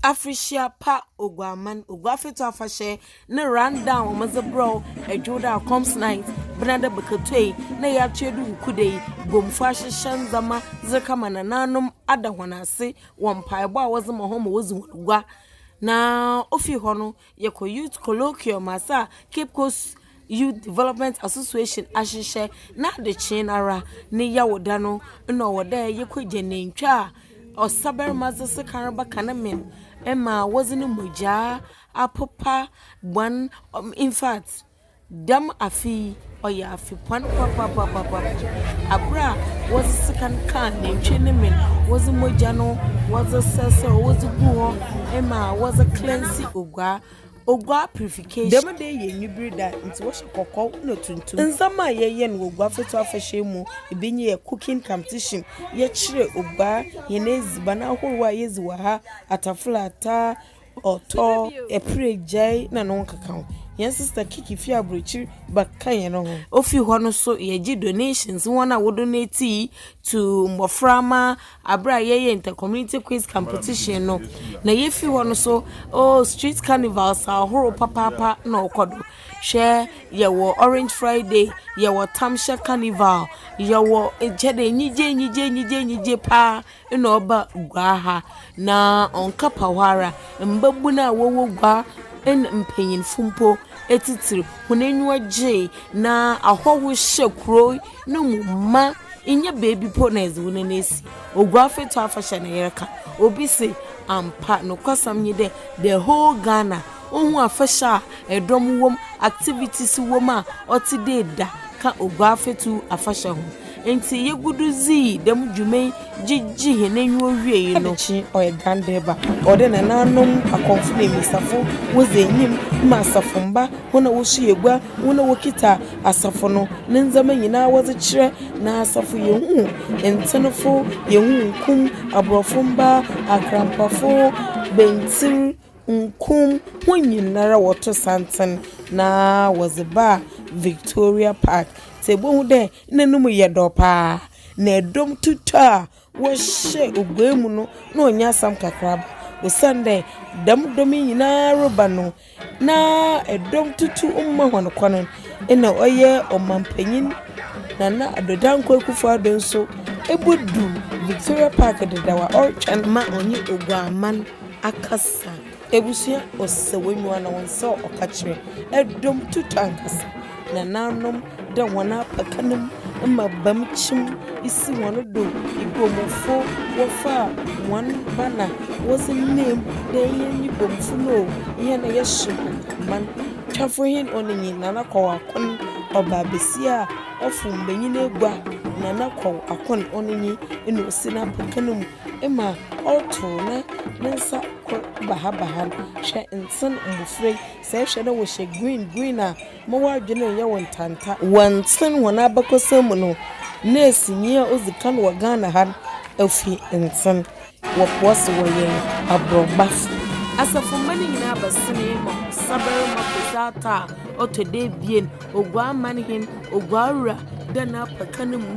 Afirihyia pa Oguaman, Oguafeto afahyɛ ne run down wɔn dze brɛw ɛdwo da comes night bena dɛ bɛkɛtɔ yi na yɛ ato adu wuku da yi Bomfo ahyehyɛ ndzɛma dze kama nananom ada wɔn ase wɔ mpaebɔ a wɔdze ma hɔn ma wɔdzi wɔn gua na ofi hɔ no. Yɛkɔ Youth Colloquium ase a Cape Coast Youth Development Association ahyehyɛ na adekyee no ara ne Yawda no nna ɔwɔ dɛ yɛkɔ gya nantwi a ɔsabarima dze sekan reba ka ne men ma wɔdze no mogyaa apopa bɔn infact Dɛm afe yi, ɔyɛ afe pon papaapa, aber a wɔdze sekan kaa nantwi ne men, wɔdze mogya no wɔdze srɛsrɛw, wɔdze gu hɔ ma wɔdze cleanse oguaa, oguaa purification. Dɛm da yi yɛ enyibir da ntsi wɔhyɛ kɔkɔɔ na tuntum. Ndzɛmba a yɛyɛ no wɔ Oguaa Fatu Afahyɛ yi mu, bi nye yɛ cooking competition, yɛkyerɛ oguaa hɛn edziban ahorow a yedzi wɔ ha, ataful ataa, Ɔtɔ ɛpire gyae na ne ho nkeka ho. Yɛn sister Kiki fi aburokyiri ba ka yɛn ho. Ofi hɔ no so yɛgye donations wɔn a wo donate to mmɔfra ma abere a yɛyɛ inter community quiz competition no na yɛfi hɔ no so oh street carnivals ahorow papaapa na ɔkɔ do hwɛ yɛwɔ orange friday yɛwɔ tamhyɛ carnival yɛwɔ kyɛ dɛ nyigye nyigye nyigye nyigye paa Nna ɔba gua ha, na ɔnnkɛpa hɔ ara, mbabun a wɔwɔ gua na mpanyimfo mpo tsitsir, hɔn enyiwa gyee, na ahɔho hyɛɛ kurow no mu mã. Nnyɛ beebi mpo na yɛdze wo nan esi. Oguafɛtu afahyɛ na yɛreka. Obi se, Ampa, nokwasɛm nye dɛ, the whole Ghana. Ohun afahyɛ a dɔm wɔ mu, activities wɔ mu a ɔtse dɛ da ka Oguafɛtu afahyɛ ho. Ntsi yegu do dzii dɛm dwuma yi gyegyee hɛn enyiwa wiei no, Adekye, ɔyɛ Gandeba. Ɔwɔ dɛ nanaanom akɔmfo na mbesiafo wodzi enyim ma asafomba, hɔn a woso egua, hɔn a wokitsa asafo no ne ndzɛmba nyina wɔdze kyerɛ. Na asafo yehun ntsenfo, yehun nkum, aborɔfo mbaa, akrampafo, bantsir, Nkum, hɔn nyinara wɔto santsen na wɔdze baa Victoria Park, dze ebohu dɛ nna no mu yɛ dɔ paa, na dɔm tutɔ a wɔhyɛɛ oguaa mu no nna ɔnnyɛ asɛm kakraba, osiandɛ dɛm dɔm yi nyinara reba no, na dɔm tutu mma hɔn kwan. Nna ɔyɛ ɔmampanyin Nana Addo Dankwa Akufo-Addo so ebodu Victoria Park dedaw a ɔrotweɔn ma ɔnye Oguaa man. Akasa, ebusua ɔsɛ w'enyiwa na wo nsa ɔka kyerɛ. Dɔm tutu ankasa, nananom dɛ hɔn apaka no mu, mbabam kyim si hɔn do, Ibomufo wɔfaa hɔn banner wɔdze name mu dɛ hɛn nye Bomufo no o, hɛn na yɛhyew Ntaman. Twafo hen Onenyi, Nana Kɔw Akon, ɔbaa basia a ɔfow mbanyin egua, Nana Kɔw Akon Onenyi na osi n'apaka no mu. ma ɔrotow ne ne nsa kor bahabaha no. Hwɛ ntsen mbofra yi, sɛ ehwɛ na wɔhyɛ green green a, mma w'adwen nnyɛ wo ntanta. Wɔ ntsen hɔn abakɔsɛm mu no, nɛɛsenyi a odzi kan wɔ Ghana ha no, ofi ntsen. Wɔpɔw se wɔyɛ aborɔbafo. Asafomba no nyina bɛsenee ma Ɔsabarmba Kwesi Arthur a ɔtɔ do ebien, Oguamanhen, Oguawura, dɛ n'apata no mu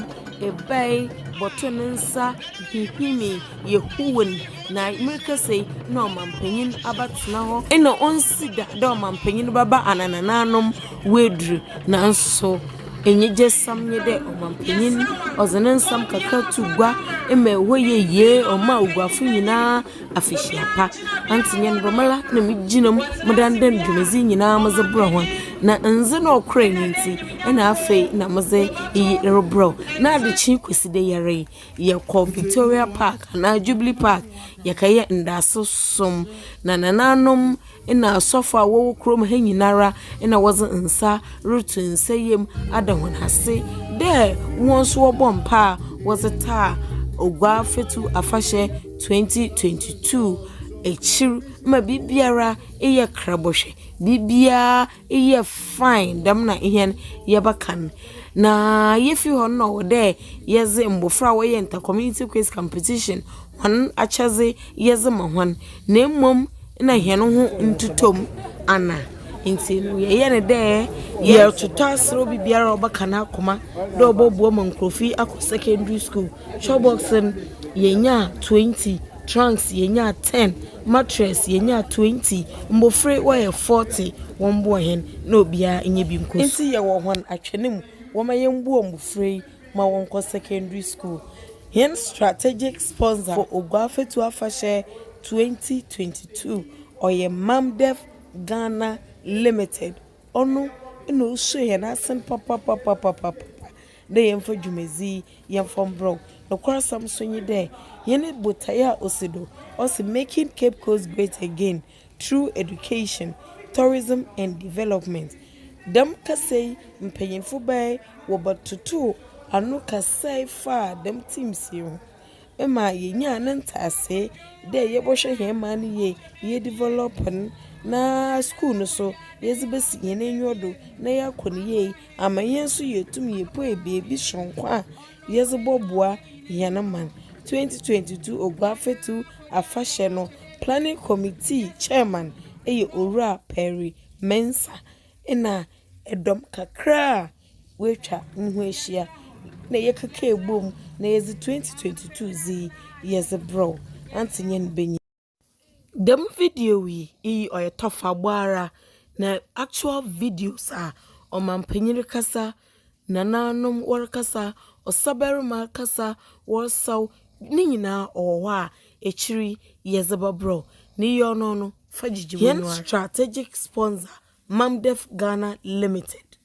bae bɔtoo ne nsa. hinhimii yɛ huun na merekasa yi na ɔmampanyin abɛtsena hɔ nna onnsi da dɛ ɔmampanyin bɛba anana n'anom oedur. Naaso enyigyesɛm nye dɛ ɔmampanyin ɔdze ne nsɛm kakra too gua ma hɔ yɛ yie, ɔmaa oguafo nyina afehyia pa. Antse nye ndɛ mara na migyina mu medan dɛ dwumadzi nyina medze brɛ hɔn, na ndze na ɔkora nye ntsi na afei na medze iyi rebrɛ wo na adekye Kwesida yi ara yi. Yɛkɔ Victoria Park anaa Jubilee Park, yɛkɛyɛ ndaase som. Na nananom na asɔfo a wɔwɔ kurom ha nyinara na wɔdze nsa roto nsa yamu ada hɔn ase dɛ hɔn so wɔbɔ mpaa wɔdze taa Oguaa-Fatsu afahyɛ twenty twenty two ekyir ma biribiara eyɛ krabɔ hwɛ, biribiara. Eyɛ fine, dɛm na hɛn yɛbɛka no. Na yefi hɔ no nna ɔwɔ dɛ yɛdze mbofra a wɔyɛ inter community quiz competition hɔn akyɛdze yɛdze ma hɔn na mbom nna hɛn ho nntotɔ mu ana ntsi no yɛyɛ no dɛ yɛrototɔ aser obi biara a ɔbɛka n'akoma dɛ ɔbɔboa ma nkorɔfo yi akɔ secondary school. Twɔbɔks no yenyaa twenty. Trunks yenyaa ten, mattress yenyaa twenty, mbofra wɔyɛ forty, wɔmboa hɛn na obiara nya bi nkɔ su. Ntsi yɛwɔ hɔn atwɛn mu, wɔma yɛmboa mbofra yi ma wɔnkɔ secondary school. Hɛn strategic sponsor for Oguafatu Afahyɛ twenty twenty two ɔyɛ Mamdef Ghana Limited, ɔno na osuo hɛn asen papapapapapa. dɛ yɛmfa dwumadzi yi yɛmfa mbrɛw. Nokwasɛm so nye dɛ, hɛn botae a osi do, ɔse Making Cape Coast Great Again Through Education, Tourism and Development. Dɛm kasa yi mpanyimfo bae wɔbɛtotoow ano kasae faa dɛm themes yi ho. ma yenyaa ne ntaase dɛ yɛbɔhwɛ hɛn man no yie, ye develop no, na skuul no so yɛdze besi hɛn enyiwa do na yɛakɔ no yie ama hɛn so yeetum yepuei beebi soronko a yɛdze bɔboa hɛn man. Twenty twenty two Oguafɛtu Afahyɛ no Planning Committee Chairman yɛ Owura Perry Mensah na dɔm kakra a. woetwa no ho ehyia na yɛkekaa bɔ mu na yɛdze twenty twenty two dze yi yɛdze brɛw Auntie nye ne banyin. Dɛm video yi iyi ɔyɛ tɔfabɔ ara na actual videos a ɔmampanyin rekasa, nanaanom wɔrekasa, ɔsabarima rekasa wɔresaw ne nyina ɔwɔ hɔ a ekyir yi yɛdze bɛbrɛw na iyi ɔno no fa gyegye w'enyiwa. Hɛn strategic sponsor, Mamdef Ghana Limited.